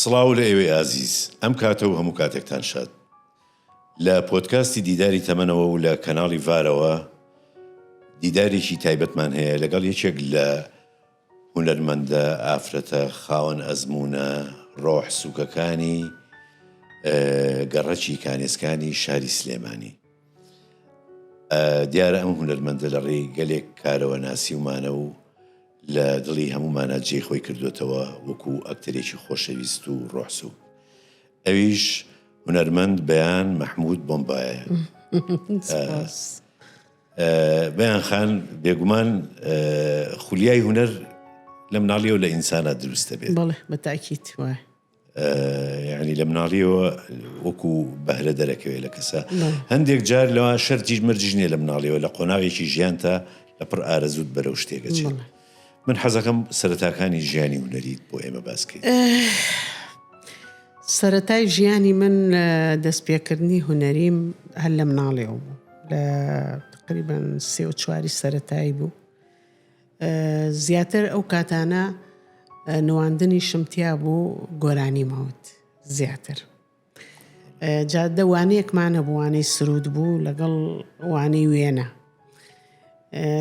سڵاو لە ئێوەی ئازیز ئەم کاتە و هەموو کاتێکتان شاد لە پۆتکاستی دیداری تەمەنەوە و لە کەناڵی ڤارەوە دیدارێکی تایبەتمان هەیە لەگەڵ یەکێک لە هونەرمەندە ئافرەتە خاوەن ئەزموونە ڕۆح سووکەکانی گەڕەکی کانێسکانی شاری سلێمانی دیارە ئەم هونەرمەندە لە ڕێی گەلێک کارەوە ناسیومانە و لە دڵی هەمومانە جێ خۆی کردوێتەوە وەکو ئەکتەرێکی خۆشەویست و ڕۆحسوو ئەویش هونەرمەند بەیان مەحمود بۆمبایە بەیان خان بێگومان خولیای هونەر لە مناڵیەوە لە ئینسانە دروست دەبێت بەڵێ بە تاکیت وایە یعنی لە مناڵیەوە وەکو بەهرە دەرەکەوێت لە کەسە هەندێک جار لەوە شەرتیش مەرجژنێ لە مناڵیەوە لە قۆناغێکی ژیان تا لە پڕ ئارەزود بەرەو شتێکەچێت من حەزەکەم سەرەتاکانی ژیانی هونەریت بۆ ئێمە باس کەیت. سەرەتای ژیانی من لە دەستپێکردنی هونەریم هەر لە مناڵێەوە بوو لە تقریبان سێ و چواری سەتایی بوو زیاتر ئەو کاتانە نواندنی شمتیا بوو گۆرانی ماوت زیاتر جا دە وانەیەکمان هەبوو وانەی سرود بوو لەگەڵ وانەی وێنە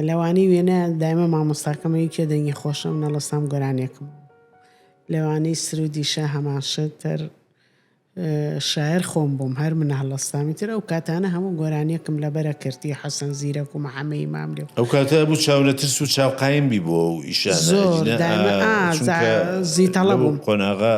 لەوانەی وێنە دایمە مامۆستاکەمەوی کێ دەنگی خۆشە منە لە سام گۆرانێکم لەوانەی سرودیشە هەماشتر شاعر خۆم بووم هەر منە هەڵستامی تر ئەو کاتانە هەموو گۆرانیەکم لە بەرە کردی حەسەن زیرەک و محەممەی مام لێ ئەو کاتە بوو چاولە ترس و چاوقایم بی بۆ و ئیشان زۆر زیتەڵە بووم قۆناغا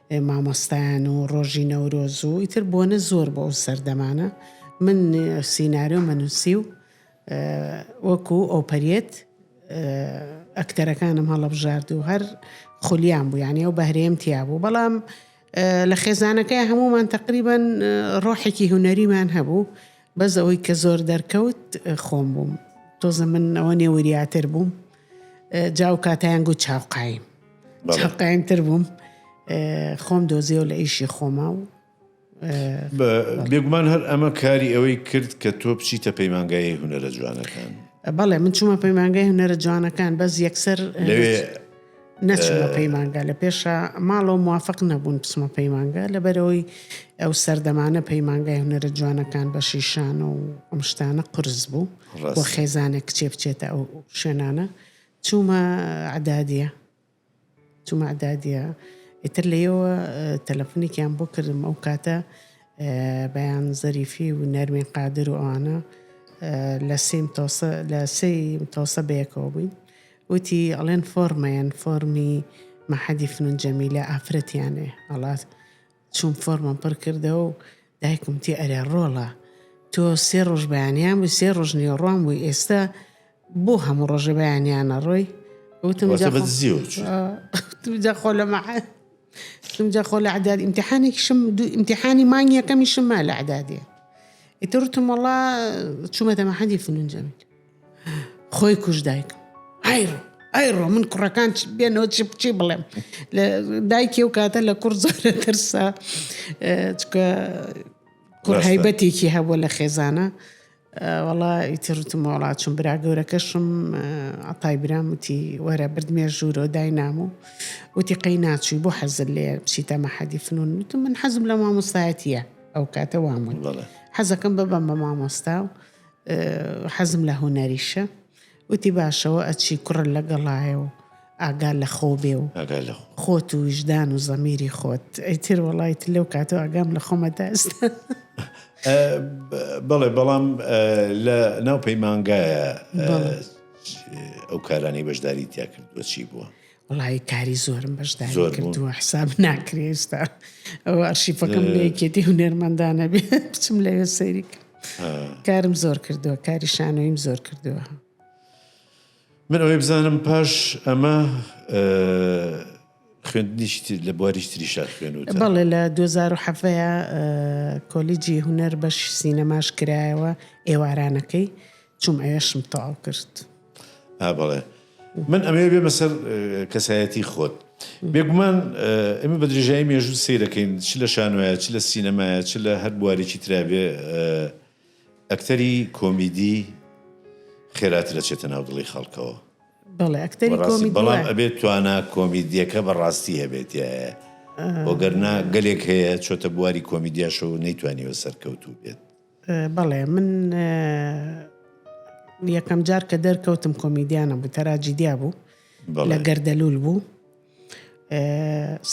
مامۆستایان و ڕۆژی نەورۆز و ئیتر بۆنە زۆر بۆ ئەو سەردەمانە من سینارۆمە نووسی و وەکو ئۆپەرێت ئەکتەرەکانم هەڵەبژارد و هەر خولیان بوو یانە و بەهرێم تیا بوو بەڵام لە خێزانەکەی هەمومان تقریبان ڕۆحێکی هوەریمان هەبوو بەس ئەوەی کە زۆر دەرکەوت خۆم بووم تۆزە من ئەوە نێ وریاتر بووم جا و کاتیان گوت چاوقایم چاقایمتر بووم خۆم دۆزیەوە لە ئیشی خۆما و بێگومان هەر ئەمە کاری ئەوەی کرد کە تۆ بچیتە پەیمانگای هوەرە جوانەکان بەڵێ من چوومە پەیمانگای هوەرە جوانەکان بەس یەکسەر لەوێ نەچمە پەیمانگا لە پێشە ماڵەوە موافق نەبوون بچمە پەیمانگا لەبەرەوەی ئەو سەردەمانە پەیمانگای هونەرە جوانەکان بە شیشان و ئەم شتانە قرس بوو بۆ خێزانێک کچێ بچێتە ئەو شوێنانە چوومە عدادە چوومە عدادە ئیتر لەیەوە تەلەفنێکیان بۆ کردم ئەو کاتە بەیان زەریفی و نەرمین قادر و ئەوانە لە سیم تۆسە لە سیم تۆسە بەیەکەوە بووین وتی ئەڵێن فۆرمەیەن فۆرمی مەحەدی فنون جەمیلە ئافرەتیانێ ئەڵا چوم فۆرمم پڕ کردەوە و دایکم وتی ئەرێ ڕۆڵە تۆ سێ ڕۆژ بەیانیان بووی سێ ڕۆژ نێوەڕوان بووی ئێستا بۆ هەموو ڕۆژە بەیانیانە ڕۆی وتم واتە جا بە خۆ- دزی و چی؟ آه، وتم جا خۆ لە مەعاد وتم جا خۆ لە عداد ئیمتحانێکیشم دوو ئیمتحانی مانگ یەکەمیشم ما لە عدادێ ئیتر وتم وەڵا چوومەتە مەحەدی فنون جەمیل خۆی کوژ دایکم ئایڕۆ ئایڕۆ من کوڕەکان بێنەوە چی بچی بڵێم لە دایکی و کاتە لە کوڕ زۆرە ترسا چکە کوڕ هەیبەتێکی هەبووە لە خێزانە وڵا ئیترتم وڵاچم برا گەورەکەشم عتای برام وتی وەرە بردمێ ژوورۆ داینام و وتی قەی ناچووی بۆ حەزل لێ بچیتە مەحەدی فنون وتم من حەزم لە مامۆستایەتە ئەو کاتە وامون حەزەکەم ببم بە مامۆستا و حەزم لە هونەریشە. وتی باشە وە ئەچی کوڕە لە گەڵایە و ئاگا لە خۆو بێ و خۆت و ویژدان و زەمیری خۆت ئیتر وەڵای تر لەو کاتەوە ئاگام لە خۆمە تا ئێستا. بەڵێ بەڵام لە ناو پەیمانگایە ئەو کارانەی بەشداری تیا کردووە چی بووە؟ وەڵایی کاری زۆرم بەشداری زۆر بوو. کردووە حساب ناکرێ ئێستا ئەو ئەرشیفەکەم لە یەکێتی هونەرمەندانە بێ بچم لەوێ سەیری کە- ها. کارم زۆر کردووە کاری شانۆیم زۆر کردووە من ئەوەی بزانم پاش ئەمە ئە، خوێندنیشی تر- لە بواریش تریشا خوێنوتە بەڵێ لە 2007 کۆلیجی هونەر بەشی سینەماش کرایەوە ئێوارانەکەی چوم ئەیشم تەواو کرد. ئا بەڵێ من ئەمەوێ بێمە سەر کەسایەتی خۆت بێگومان ئێمە بە درێژایی مێژوو سیرەکەین چ لە شانۆایە چ لە سینەمایە چ لە هەر بوارێکی ترابێ ئەکتەری کۆمیدی خێراتر دەچێتە ناو دڵی خەڵکەوە بەڵام ئەبێت توانا کۆمیدیەکە بەڕاستی هەبێت بۆگەرنا گەلێک هەیە چۆتە بواری کۆمیدیاشەوە نەیتوانیوە سەرکەوتوو بێت بەڵێ من یەکەم جار کە دەرکەوتم کۆمیدیانە بوو تەراجیدیا بوو لە گەردەلول بوو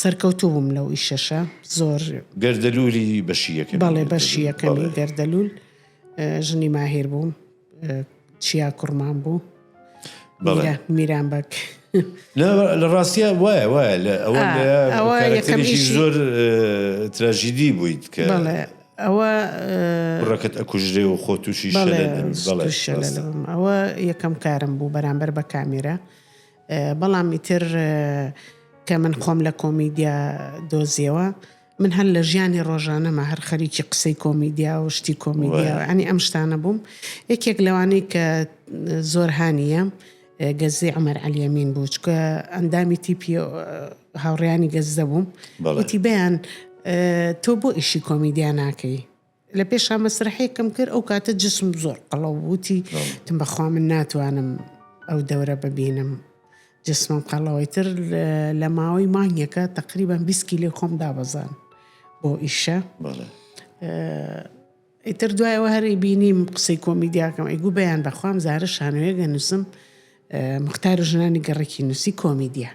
سەرکەوتوو بووم لەو ئیشەشە زۆر گەردەلولی بەشی یەکەم بەڵێ بەشی یەکەمی گەردەلول ژنی ماهیر بووم چیا کوڕمان بوو میران بەک لە ڕاستە وایە وایە لە ئەوە یەکەمیشی زۆر تراژیدی بوویت کە ئەوە ڕەکەت ئەکوژرێ و خۆ تووشی ئەوە یەکەم کارم بوو بەرامبەر بە کامێرە بەڵام ئیتر کە من خۆم لە کۆمیدیا دۆزیەوە من هەر لە ژیانی ڕۆژانەما هەر خەریکی قسەی کۆمیدیا و شتی کۆمیدیا و ینی ئەم شتانە بووم یەکێک لەوانەی کە زۆر هاانیە گەزی ئەمەر علیەمین بوو چکە ئەندامی تیپی هاوڕیانی گەزدە بووم بەڵێتی بەیان تۆ بۆ ئیشی کۆمیدیا ناکەی لە پێشا مەسرەحێکم کرد ئەو کاتە جسم زۆر قەڵەو بووتی تم بەخوا من ناتوانم ئەو دەورە ببینم جسمم قەڵەوەی تر لە ماوەی مانگێکە تقریبان 20 کیلۆ خۆم دابەزان بۆ ئیشە ئیتر دوایەوە هەری بینیم قسەی کۆمیدیاکەم ئەیگو بەیان بەخوام زارە شانوێگە نووسم مختار ژنانی گەڕێکی نووسی کۆمیدیا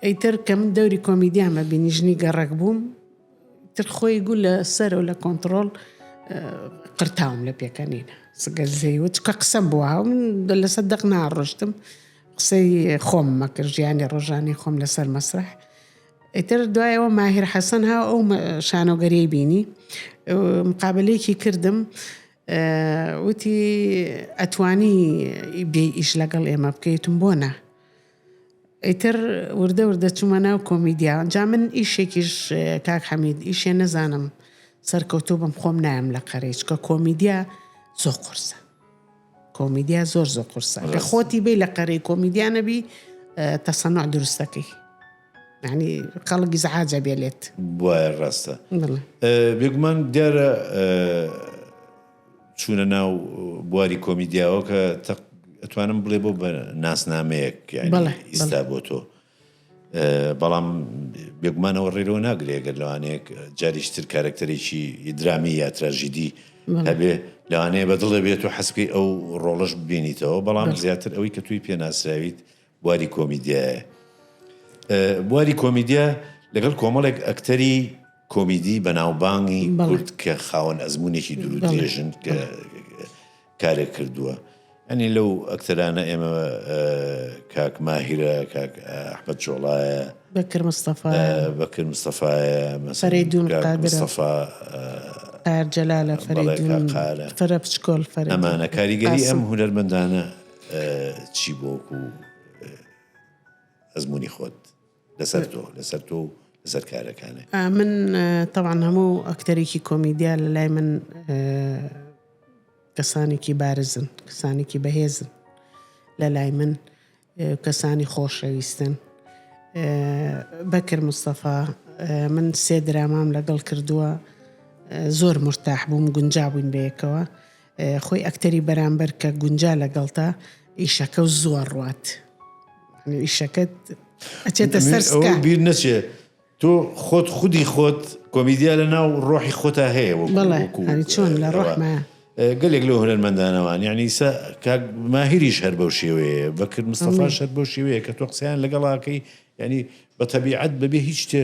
ئەیتر کەم دەوری کۆمیدیامە بینی ژنی گەڕک بووم تر خۆی گو لە سەر و لە کۆنتڕۆڵ قرتاوم لە پێکەنین سگەر زەیوە چکە قسەم بۆ هاوم لەسەر دەق ناڕۆشتم قسەی خۆم مەکرد ژیانی ڕۆژانی خۆم لەسەر مەسرح ئیتر دوایەوە ماهر حەسەن ها ئەو شانۆگەری بینی مقابلێکی کردم وتی ئەتوانی بێ ئیش لەگەڵ ئێمە بکەیتم بۆ نا ئیتر وردە وردە چومە ناو کۆمیدیا جا من ئیشێکیش کاک حەمید ئیشێ نەزانم سەرکەوتوو بم خۆم نایەم لە قەرەی چکە کۆمیدیا زۆ قورسە کۆمیدیا زۆر زۆ قورسە لە خۆتی بی لە قەرەی کۆمیدیا نەبی تەسەنوع دروستەکەی یعنی خەڵک زعاجە بێلێت بواە ڕاستە بێگومان دیارە چوونە ناو بواری کۆمیدیاوە کە ئەتوانم بڵێ بۆ بە ناسنامەیەک ئیستا بۆ تۆ بەڵام بێگومانەوە ڕێرەوە ناگرێگەر لەوانەیەک جاریشتر کارکتەرێکی درامی یا تراژیدی هەبێ لەوانەیە بەدڵێ بێت و حەسکی ئەو ڕۆڵش ببینیتەوە بەڵام زیاتر ئەوەی کە توی پێناسراویت بواری کۆمیدیایە بواری کۆمیدیا لەگەڵ کۆمەڵێک ئەکتەری کۆمیدی بەناوبانگی کورد کە خاوەن ئەزمونێکی دوور و درێژن کە کارێک کردووە ئەنی لەو ئەکتەرانە ئێمە کاک ماهیرە کاک ئەحمد جۆڵایە بەکر مستەفا بەکر مستەفاایە مەسەری دوون مستەفا ئارجەلالە فەرە بچکۆل فەر ئەمانە کاریگەری ئەم هونەرمەندانە چی بۆ وەکو ئەزمموی خۆت لەسەر تۆ لەسەر تۆ و لەسەر کارەکانێ من تەوان هەموو ئەکتەرێکی کۆمیدیا لە لای من کەسانێکی بارزن کەسانێکی بەهێزن لە لای من کەسانی خۆشەویستن بەکر مستەفا من سێ درامام لەگەڵ کردووە زۆر مرتاح بووم گونجابووین بەیەکەوە خۆی ئەکتەری بەرامبەر کە گونجا لەگەڵتە ئیشەکە و زووە ڕوات ئیشەکەت ئەچێتە سەر بیر نەچێ تۆ خۆت خودی خۆت کۆمیدیا لە ناو ڕۆحی خۆتا هەیە چۆن لە ڕۆحمە گەلێک لە هونەرمەندانەوان یعنی ئیسا کاک ماهریش هەر بەو شێوەیە بەکرد مستەفا شەر بەو شێوەیە کە تۆ قسەیان لەگەڵاکەی ینی بە تەبیعەت بەبێ هیچ شتێ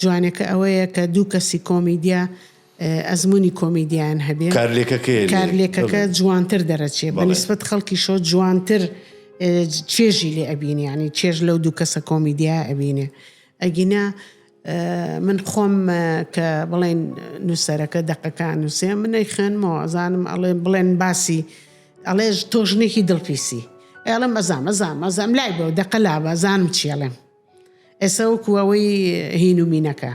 جوانەکە ئەوەیە کە دوو کەسی کۆمیدیا ئەزمونی کۆمیدیان هەبێ کارلێکەکە جوانتر دەرەچێ بە نسبت خەڵکی شۆ جوانتر چێژی لێ ئەبینیانی چێژ لەو دوو کەسە کۆمیدیا ئەبینێ ئەگینا من خۆم کە بڵێن نووسەرەکە دەقەکان نووسێ منەی خوێنمەوە ئەزانم ئەڵێ بڵێن باسی ئەڵێژ تۆژنێکی دڵپیسی ئەڵم بەزام ئەزام ئەزام لای بەو دەقە لابە زانم چێڵێم ئێستا وەکو ئەوەی هینو مینەکە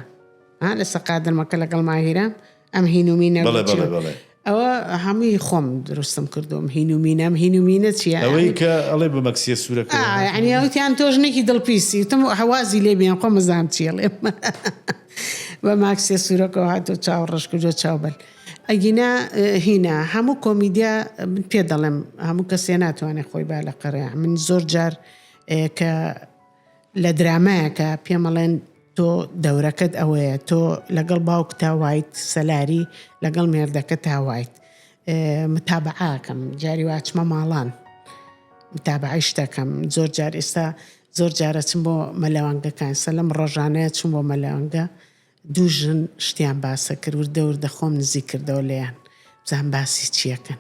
ها لە سەقا درمەکە لەگەڵ ماهیرە ئەم هینو مینە بەڵێ بەڵێ چیە؟ بەڵێ ئەوە هەمووی خۆم دروستم کردوم هینو مینە ئەم هینو مینە چیە؟ ئەوەی کە ئەڵێ بە مەکسیە سوورەکە آه يعني وتیان تۆ ژنێکی دڵپیسی وتم حوازی لێ بێن خۆ مەزام چیە ڵێم بە ماکسێ سوورەکەەوە هاتۆ چاو ڕەش کردوە چاو بەل ئەگینا اه، هینا هەموو کۆمیدیا من پێ دەڵێم هەموو کەسێ ناتوانێت خۆی با لە قەرەیە من زۆر جار کە لە درامایەکە پێمەڵێن تۆ دەورەکەت ئەوەیە تۆ لەگەڵ باوک تا وایت سەلاری لەگەڵ مێردەکە تا وایت متابعاکەم جاری واچمە ماڵان متابعی شتەکەم زۆر جار ئێستا زۆر جارە چم بۆ مەلەوانگەکان سەلم ڕۆژانەیە چم بۆ مەلەوانگە دوو ژن شتیان باسە کرد وردە وردە خۆم نزیک کردەوە لێیان بزانم باسی چیەکەن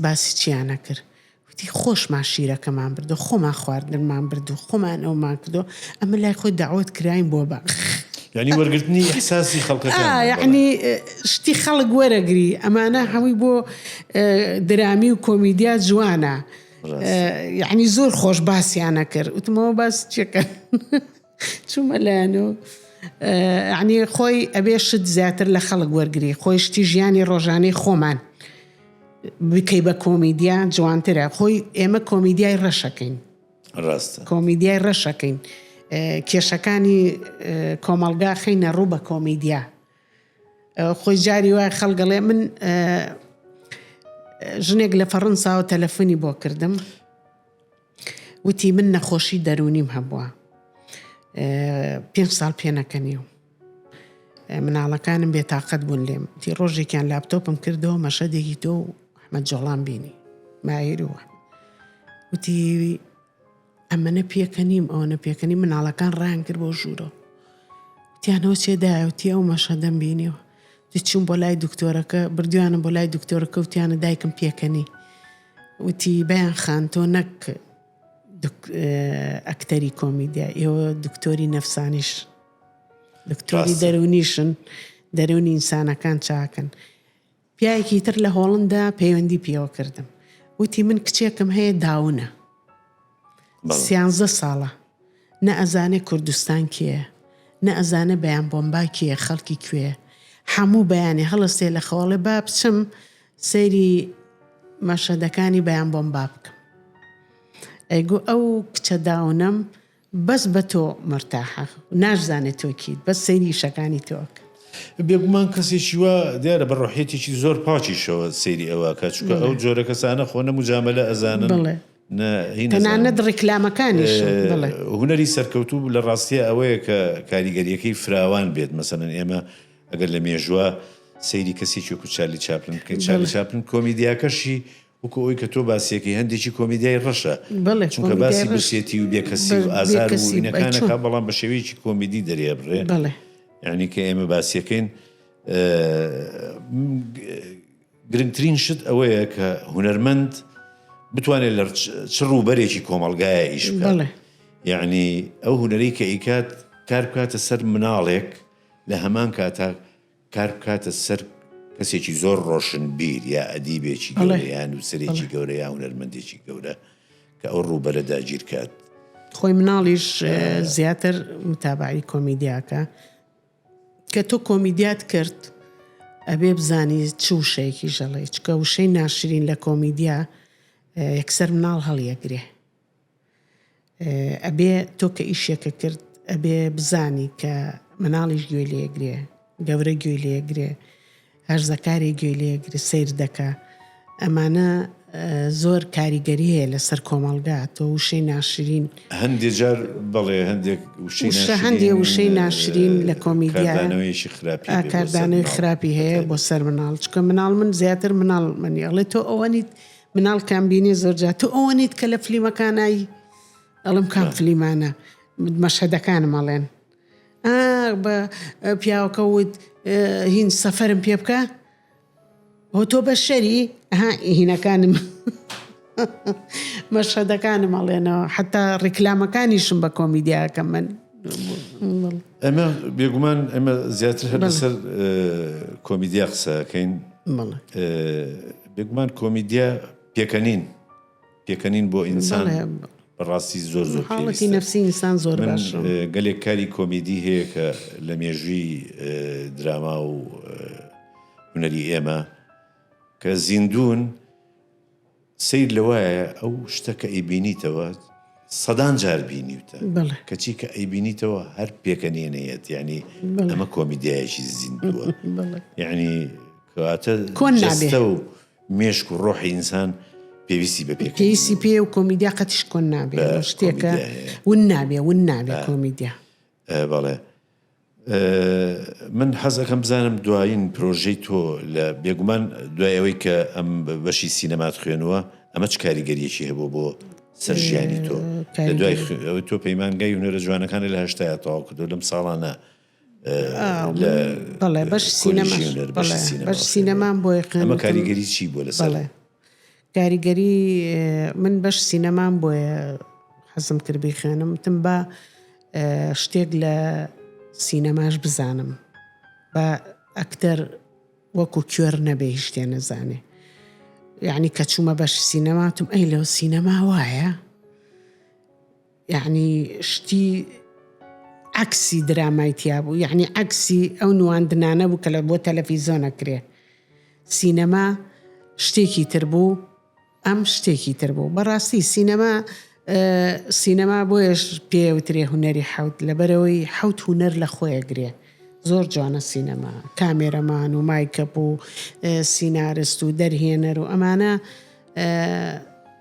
باسی چیانە کرد وتی خۆشمان شیرەکەمان بردو خۆمان خواردنمان بردو خۆمان ئەومان کردو ئەمە لای خۆی داوت کراین بۆ بە یعنی وەرگرتنی احساسی خەڵکەکان یعنی شتی خەڵک وەرەگری ئەمانە هەمووی بۆ درامی و کۆمیدیا جوانە یعنی زۆر خۆش باسیانە کرد وتمەوە باس چێکە چومە لایەن و یعنی خۆی ئەبێ شت زیاتر لە خەڵک وەرگری خۆی شتی ژیانی ڕۆژانەی خۆمان بکەی بە کۆمیدیا جوانترە خۆی ئێمە کۆمیدیای ڕەشەکەین ڕاستە کۆمیدیای ڕەشەکەین کێشەکانی کۆمەڵگا خینە ڕوو بە کۆمیدیا خۆی جاری وای خەڵگەڵێ من ژنێک لە فەڕەنساوە تەلەفۆنی بۆ کردم وتی من نەخۆشی دەرونیم هەبووە پێنج ساڵ پێنەکەنی و مناڵەکانم بێتاقەت بوون لێم تی ڕۆژێکیان لاپتۆپم کردەوە مەشەدێکی تۆ و ئەحمە جۆڵان بینی ماهروە وتی ئەمەە پێکە نیم ئەوەنە پێکەنی مناڵەکان ڕان کرد بۆ ژوورەوە تیانەوە چێدایوتی ئەو مەشەدەم بینیەوە دەچووم بۆ لای دکتۆرەکە بردیانم بۆ لای دکتۆرەکە وتیانە دایکم پێکەنی وتی بەیان خان تۆ نەک ئەکتەری کۆمیدیا ئێوە دکتۆری نەفسانیش دکتۆری دەرونیشن دەرونی ئینسانەکان چاکن پیاەکی تر لە هۆڵندا پەیوەندی پێوە کردم وتی من کچێکم هەیە داونە سیانزە ساڵە نە ئەزانێ کوردستان کێیە نە ئەزانێ بەیان بۆمبا کێیە خەڵکی کوێیە حەموو بەیانی هەڵەستێ لە خەو ئەڵێ با بچم سەیری مەشەدەکانی بەیان بۆمبا بکەم ئەی گو ئەو کچە داونەم بەس بە تۆ مەرتاحە ناشزانێ تۆ کیت بەس سەیری شەکانی تۆ ئەکا. بێگومان کەسێکی وا دیارە بە ڕۆحیەتێکی زۆر پاکیشەوە سەیری ئەو ئەکا چونکە ئەو جۆرە کەسانە خۆ نە موجامەلە ئەزانن. تەنانەت ڕیکلامەکانیش بڵێ. هونەری سەرکەوتوو لە ڕاستیا ئەوەیە کە کاریگەریەکەی فراوان بێت مەسەلەن ئێمە ئەگەر لە مێژوە سەیری کەسێکی وەکو چارلی چاپلن بکەین چارلی چاپلن کۆمیدیاکەشی وەکو ئەوی کە تۆ باسیەکەی هەندێکی کۆمیدیای ڕەشە چونکە باسی برسێتی و بێکەسی و ئازار و وینەکانەکە بەڵام بە شێوەیەکی کۆمیدی دەرێ بڕێ یعنی کە ئێمە باسیەکەین گرنگترین شت ئەوەیە کە هونەرمەند بتوانێت لە چ ڕووبەرێکی کۆمەلگایە ئیش بڵێ یعنی ئەو هونەری کە ئیکات کار بکاتە سەر مناڵێک لە هەمان کاتا کار بکاتە سەر کەسێکی زۆر ڕۆشن بیر یا ئەدیبێکی گەڵیان و سرێکی گەورە یا هونەرمەندێکی گەورە کە ئەو ڕووبەرە داگیرکات خۆی مناڵیش زیاتر متابعی کۆمیدیاکە کە تۆ کۆمیدیات کرد ئەبێ بزانی چ وشەیەکی ژەڵەی چکە وشەی ناشرین لە کۆمیدیا یەکسەر مناڵ هەڵیەگرێ ئەبێ تۆ کە ئیشێکە کرد ئەبێ بزانی کە مناڵیش گوێ لێگرێ گەورە گوێ لێگرێ هەرزەکارێ گوێ لێگرە سەیر دەکە ئەمانە زۆر کاریگەری هەیە لەسەر کۆمەڵگا تۆ وشەی ناشرین هەندێ جار بەڵێ هەندێک وشە هەندێ وشەی ناشرین لە کۆمیدیانەوەیشی خراپی کاردانەوەی خراپی هەیە بۆ سەر مناڵ چکە مناڵ من زیاتر مناڵ منی ئەڵێ تۆ ئەوەنیت مناڵ کامبینی زۆرجا تۆ ئەوەنیت کە لە فلیمەکانایی ئەڵم کام فلیمانە مەشهدەکانم ئەڵێن ئاخ بە پیاوەکە وت هین سەفەرم پێ بکە هۆ تۆ بەشەری ها هینەکانم مەشهدەکانم ئەڵێنەوە حتا ڕیکلامەکانیشم بە کۆمیدیاکە من ئەمە بێگومان ئەمە زیاتر هەر لەسەر کۆمیدیا قسەکەین بێگومان کۆمیدیا پێکەنین پێکەنین بۆ ئینسان بەڕاستی زۆر زۆر پێویستە من گەلێک کاری کۆمیدی هەیە کە لە مێژووی دراما و هونەری ئێمە کە زیندوون سیر لە وایە ئەو شتە کە ئەیبینیتەوە سەدان جار بینیوتە کەچی کە ئەیبینیتەوە هەر پێکەنێنەیەت ینی ئەمە کۆمیدایەکی زیندووە ینی کەواتە کۆنستە و مێشک و ڕۆحی ئینسان پێویستی بە پێکەنین هەیە. پێویستی پێیە و کۆمیدیا قەتیش کۆن نابێ. بە ئەو شتێکە کۆمیدیا هەیە. ون نابێ، ون نابێ بە. کۆمیدیا. ئە، بەڵێ. ئە، من حەز ئەکەم بزانم دوایین پرۆژەی تۆ لە، بێگومان دوای ئەوەی کە ئەم بەشی سینەمات خوێنووە، ئەمە چ کاریگەرییەکی هەبووە بۆ سەر ژیانی تۆ؟ لە دوای کاریگەری. خوێ، ئەوە تۆ پەیمانگای هونەرە جوانەکانت لە هەشتایا تەواو کردووە، لەم ساڵانە. بەڵێ بەش سینەما بەش سینەمان بۆ ئەمە کاریگەری چی بۆ لە ساڵێ کاریگەری من بەش سینەمان بۆیە حەزم کرد بیخێنم تم بە شتێک لە سینەماش بزانم بە ئەکتەر وەکو کوێر نەبێ شتێ نەزانێ یعنی کە چوومە بەش سینەماتم ئەی لەو سینەما وایە یەعنی شتی عەکسی درامای تیا بوو یەعنی عەکسی ئەو نواندنانە بوو کە لە بۆ تەلەفیزۆن ئەکرێ سینەما شتێکی تر بوو ئەم شتێکی تر بوو بەڕاستی سینەما سینەما بۆیش پێوترێ هوەری حوت لەبەرەوەی حوت هوەر لە خۆیە گرێ زۆر جوانە سینەما کامێرەمان و مایکەپ و سینارست و دەرهێنەر و ئەمانە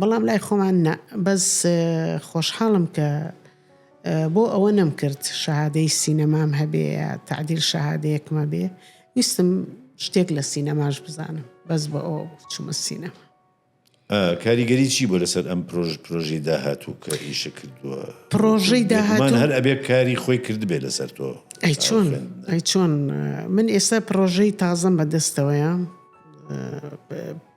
بەڵام لای خۆمان نا بەس خۆشحاڵم کە بۆ ئەوە نەمکرد شەهادەی سینەمام هەبێ یا تعدیل شەهادەیەکمە بێ ویستم شتێک لە سینەماش بزانم بەس بە ئەو چمە سینەما کاریگەری چی بۆ لەسەر ئەم پرۆژ پرۆژی داهاتوو کە ئیشە کردووە پرۆژەی داهاتمان هەر ئەبێ کاری خۆی کردبێ لەسەر تۆ ئەی چۆن ئەی چۆن من ئێستا پرۆژەی تازم بەدەستەوەیە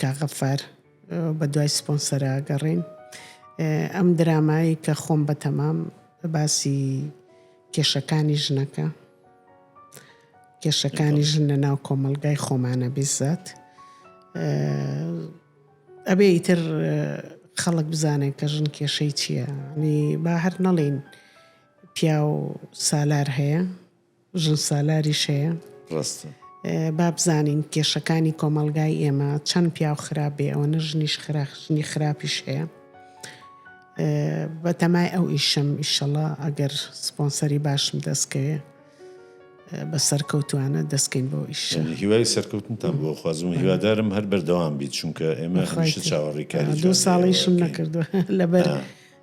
کاغەفەر بە دوای سپۆنسەرە گەڕین ئەم درامایی کە خۆم بە تەمام باسی کێشەکانی ژنەکە کێشەکانی ژن لە ناو کۆمەلگای خۆمانە بیزات ئەبێ ئیتر خەڵک بزانێت کە ژن کێشەی چییە نی با هەر نەڵین پیاو سالار هەیە ژن سالاریش هەیە. ڕاستە. با بزانین کێشەکانی کۆمەڵگای ئێمە چەند پیاو خراپ بێ ئەوەنە ژنیش خراپ ژنی خراپیش هەیە. بەتەمای ئەو ئیشم ئیشەڵا ئەگەر سپۆنسەری باشم دەستکەوێ بە سەرکەوتوانە دەستکەین بۆ ئیش هیوای سەرکەوتنتان بۆ خوازم و هیوادارم هەر بەردەوام بیت چونکە ئێمە هەمیشە چاوەڕیکاری دو ساڵیشم نەکردووە لەبەر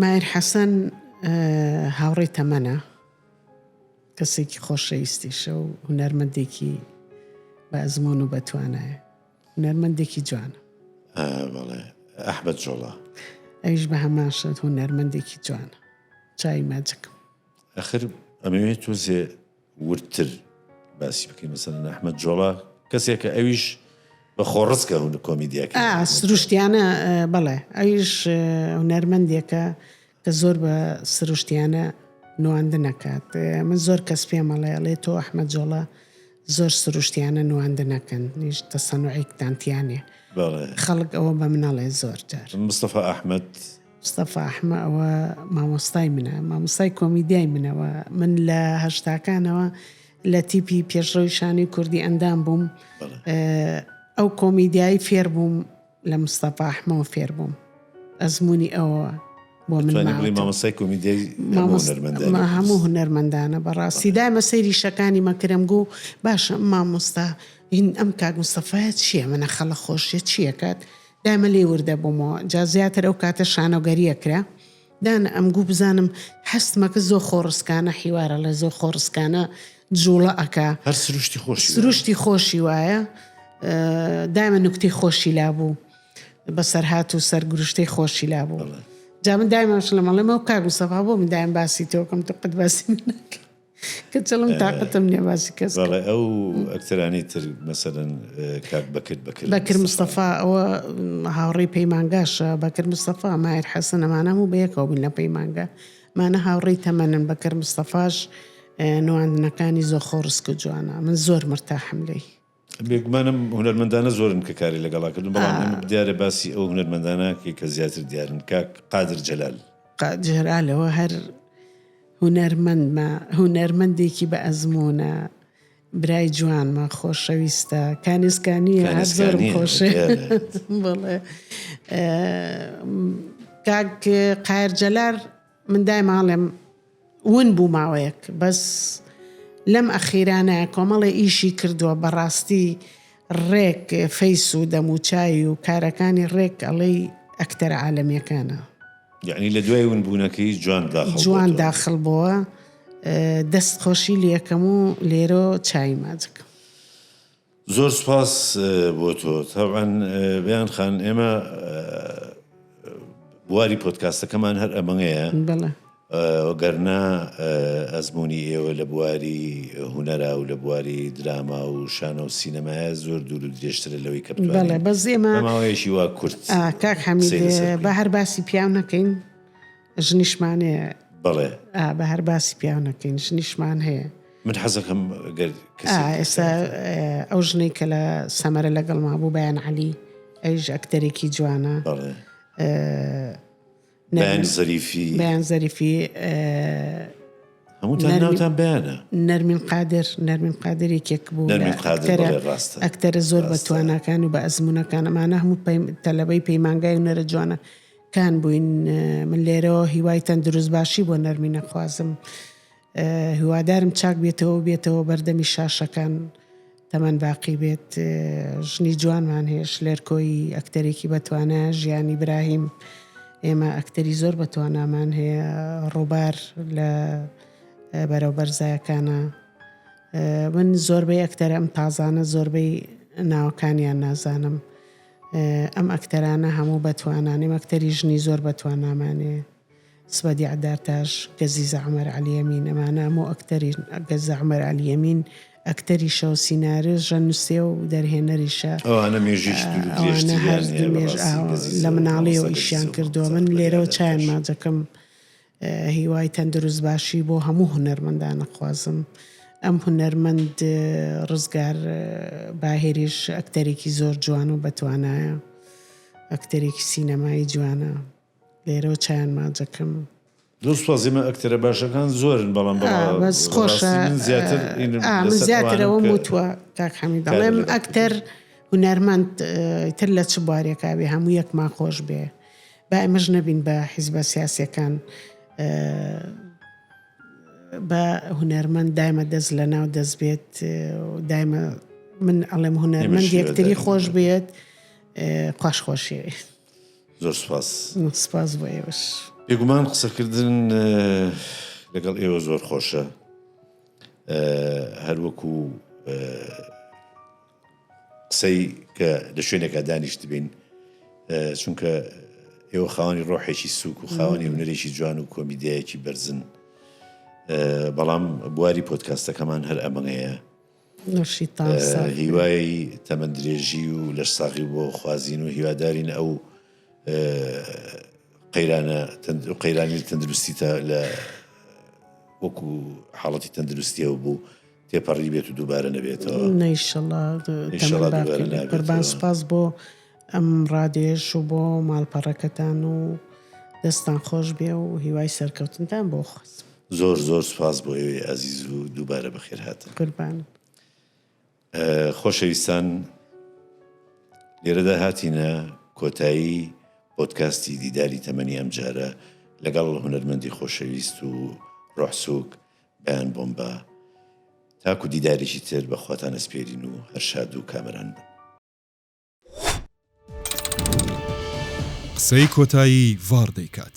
مایر حەسەن هاوڕێی تەمەنە، کەسێکی خۆشەویستیشە و هونەرمەندێکی بە ئەزمۆن و بەتوانایە هونەرمەندێکی جوانە بەڵێ ئەحبەت جۆڵە ئەویش بە هەماشت هونەرمەندێکی جوانە چای ماجکم ئەخر ئەمەوێت تۆزێ وردتر باسی بکەین مەسەلەن ئەحمەد جۆڵا کەسێکە ئەویش بە خۆڕسکە هون کۆمیدیاکە سروشتیانە بەڵێ ئەویش هونەرمەندێکە کە زۆر بە سروشتیانە نواندن نەکات من زۆر کەس پێمەڵێ ئەڵێ تۆ ئەحمە جۆڵە زۆر سروشتیانە نواندە نەکەن نیش تەسەنوعێکتانتیانێ خەڵک ئەوە بە منەڵێ زۆر جار مستەفا ئەحمد مستەفا حمە ئەوە مامۆستای منە مامۆستای کۆمیدیای منەوە من لە هەشتاکانەوە لە تیپی پێشڕەوی شانەی کوردی ئەندام بووم ئەو کۆمیدیایی فێر بووم لە مستەفا حمەوە فێر بووم ئەزمموی ئەوە بۆ منمامۆسای کۆمیدیای هەموو هونەرمەندانە بەڕاستی دایمە سەیری شەکانی مەکرم گوو باشە مامۆستا هین ئەم کاک مستەفاە چییە منە خەڵە خۆشیە چیەکات دایمە لێی وردە بومەوە جا زیاتر ئەو کاتە شانۆگەریە کرا دانە ئەم گوو بزانم حەستمە کە زۆ خۆڕسکانە حیوارە ڵێ زۆ خۆڕسکانە جوڵە ئەکا هەر سروشتی خۆش سروشتی خۆشی وایە دایمە نکتی خۆشی لابوو بەسەر هات و سەر گروشتەی خۆشی لابوو جا من دایمەش لە مەڵێمە و کاگو سەفا بۆ من دایم باسی تۆکەم تو قەت باسی من نکە کچڵم تاقەتم نیە باسی کەس کە. بەڵێ ئەو ئەکتەرانی تر مەسەلەن کاک بەکر بەکر. بەکر مستەفا ئەوە هاوڕێی پەیمانگاشە بەکر مستەفا ماهیر حەسەن ئەمانە هەموو بەیەکەوە بووین لە پەیمانگا مانە هاوڕێی تەمەنن بەکر مستەفاش نواندنەکانی زۆر خۆڕسک و جوانە من زۆر مرتاحم لێی. بێگومانم هونەرمەندانە زۆرن کە کاری لەگەڵا کردوون، بەڵام ئێمە دیارە باسی ئەو هونەرمەندانە کەین کە زیاتر دیارن، کاک قادر جەلال. جەلالەوە هەر هونەرمەندمە، هونەرمەندێکی بە ئەزموونە، برای جوانمە، خۆشەویستە، کانێسکا نییە، هەر زۆرم خۆشەوێ. بەڵێ. کاک قایرجەلال. من دایما ئەڵێم ون بوو ماوەیەک بەس لەم ئەخیرانە کۆمەڵێ ئیشی کردووە بەڕاستی ڕێک فەیس و دەموچاوی و کارەکانی ڕێک ئەڵێی ئەکتەرە عالەمیەکانە. یەعنی لە دوای ون بوونەکەی جوان داخڵ بۆتەوە. جوان داخڵ بۆوە دەست خۆشی لێ ئەکەم و لێرۆ چاوی ماچ ئەکەم. زۆر سوپاس بۆ تۆ. تەبعەن بەیان خان ئێمە بواری پۆتکاستەکەمان هەر ئەمەیە بەڵێ گەرنا ئەزمموی ئێوە لە بواری هوەرا و لە بواری دراما و شانە و سینەمایە زۆر دوور و درێژترە لەوەی کە بەڵێ بەزێمە ماوەیەکی وا کورت کاک حەمی بە هەر باسی پیاو نەکەین ژنیشمان هەیە بەڵێ بە هەر باسی پیاونەکەین ژنیشمان هەیە من حەزەکەم ئێستا ئەو ژنەی کە لە سەمەرە لەگەڵ ما بوو بەیان عەلی ئەوش ئەکتەرێکی جوانە بەیان زەریفی بەیان زەریفی هەمووتان ناوتان بەیانە نەرمین قادر نەرمین قادرێکێک بوو ئەکتەرە زۆر بە توانەکان و بە ئەزمونونەکان ئەمانە هەموو تەلەبەی پەیمانگای و نەرە جوانە تان بووین من لێرەوە هیوای تەندروست باشی بۆ نەرمین ئەخوازم هیوادارم چاک بێتەوە و بێتەوە بەردەمی شاشەکان تەمەن باقی بێت ژنی جوانمان هەیە شلێرکۆی ئەکتەرێکی بەتوانە ژیانی براهیم ئێمە ئەکتەری زۆر بەتوانامان هەیە ڕووبار لە بەرەو بەرزایەکانە من زۆربەی ئەکتەرم تازانە زۆربەی ناوەکانیان نازانم ئەم ئەکتەرانە هەموو بەتوانانیم ئەکتەری ژنی زۆر بەتوانامانێ سبە دیعدارتاش گەزیزە عەمەر عەلی ئەمین ئەمانە هەموو ئەکتەرین گەزە عەمەر عەلی ئەمین ئەکتەریشەو سینارێ ژە نوسێ و دەرهێنەریشە ئەوانە مێژویکی دوور و درێژ تریان هەیە بەڕاستی گەزیزە و هەموو ئەو سەرە گەزیزە و مامۆستا گەزیزە. هیوای تەندروست باشی بۆ هەموو هونەرمەندان ئەخوازم ئەم هونەرمەند ڕزگار باهێریش ئەکتەرێکی زۆر جوان و بەتوانایە ئەکتەرێکی سینەمایی جوانە لێرەوە چیان ماجەکەم دڵسوازی من ئەکتەرە باشەکان زۆرن بەڵام آه، بەڵام بەس ڕاستی خۆشە من زیاتر آه، ئینم آه، من لەسەر زیاترەوە ئەوانم کە وتوە کاک حەمید کارە دەڵێم لەگەڵ ئەکتەر هونەرمەند آه، تر لە چ بوارێکا بێ هەموو یەکمان خۆش بێ با ئێمەش نەبین بە حیزبە سیاسیەکان بە هونەرمەند دایمە دەست لە ناو دەست بێت دایمە من ئەڵێم هونەرمەند یەکتری خۆش بێت قاش خۆشی زۆر سپاس سپاس بۆ ئێوەش بێگومان قسەکردن لەگەڵ ئێوە زۆر خۆشە هەروەکو قسەی کە لە شوێنێکا دانیشتبین چونکە ئێوە خاوەنی ڕۆحێکی سوک و خاوەنی هونەرێکی جوان و کۆمیدیایەکی بەرزن بەڵام بواری پۆتکاستەکەمان هەر ئەمەەیە هیوای تەمەند درێژی و لەش ساغی بۆ خوازین و هیوادارین ئەو قەیرانە قەیرانی تەندروستی تا لە وەکو حاڵەتی تەندروستیەوە بوو تێپەڕی بێت و دووبارە نەبێتەوە نشەڵا تەمەن باقی بێت قوربان سپاس بۆ ئەم ڕادێش و بۆ ماڵپەڕەکەتان و دەستان خۆش بێ و هیوای سەرکەوتنتان بۆ خۆست زۆر زۆر سپاس بۆ ئێوەی ئازیز و دووبارە بەخێر هاتن قوربان خۆشەویستان لێرەدا هاتینە کۆتایی پۆتکاستی دیداری تەمەنی ئەم جارە لەگەڵ هونەرمەندی خۆشەویست و ڕۆحسوک بەیان بۆمبا تاکو دیدارێکی تر بە خواتان ئەسپێرین و هەر شاد و کامەران بن. قسەی کۆتایی ڤاڕ دەیکات.